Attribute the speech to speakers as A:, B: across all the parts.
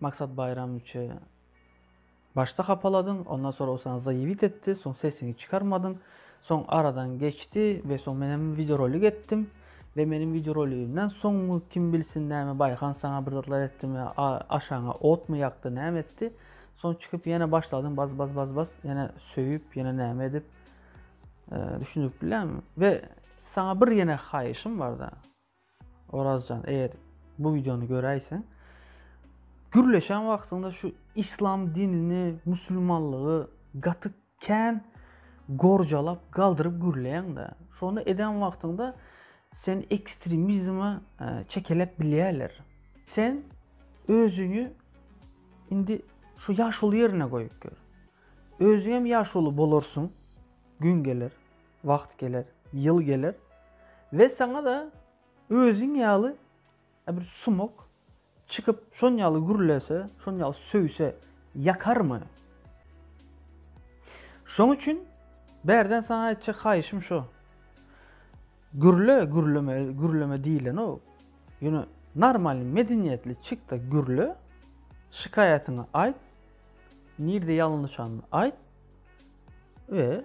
A: Maksat Baýramowiçe başda hapaladyň, ondan soň ol saňa zaýewit etdi, soň sesiňi çykarmadyň, soň aradan geçdi we soň men hem wideorolik etdim we meniň wideoroligimden soňmy kim bilsin näme Baýhan saňa bir zatlar etdimi, aşagyňa otmy ýakdy, näme etdi, soň çykyp ýene başladyň baz baz baz baz ýene söýüp ýene näme edip düşündirip bilýärmi we saňa bir ýene haýyşym barda. Orazjan eger bu videony göräýseň gürleşen wagtyňda şu islam dinini musulmanlygy gaty kän gorjalap galdyryp gürleýäňdä şony eden wagtyňda seni ekstremizme e, çekeläp bilýärler sen özüňi indi şu ýaşuly ýerine goýup gör özüň hem ýaşuly bolarsyň gün geler Wagt geler, ýyl geler we saňa-da özüň ýaly bir sumak çykyp, şon ýaly gürlese, şon ýaly söýse, ýakarmy? Şoň üçin bärden saňa aýtjak haýyşym şo. Gürle, gürleme, gürleme diýlenok. Ýöne normalny, medeniýetli çyk-da gürle, şikaýatyňy aýt, nirde ýalňyşanyny aýt we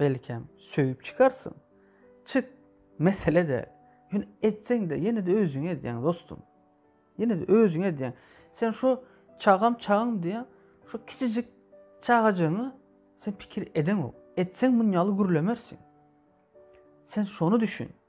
A: Belkem, söýüp çykarsyň? Çyk, mesele däl. Ýöne etseň-de, ýene-de özüňe edýäň, dostum. Ýene-de özüňe edýäň. Sen şo çagam, çagam diýýäň, şo kiçijik çagajygyňy sen pikir edeňok. Etseň munýaly gürlemersiň. Sen şony düşün.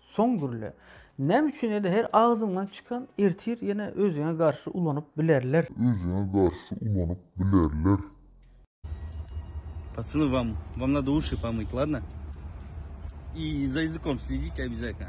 A: Soň gürle. Näme üçin ele her agzyňdan çykan ertir ýene özüňe garşy ulanyp bilerler. Özüňe garşy ulanyp bilerler.
B: Pacyny wam wam na dushi pomyt ladno i za ýzykom slidite obýazatno.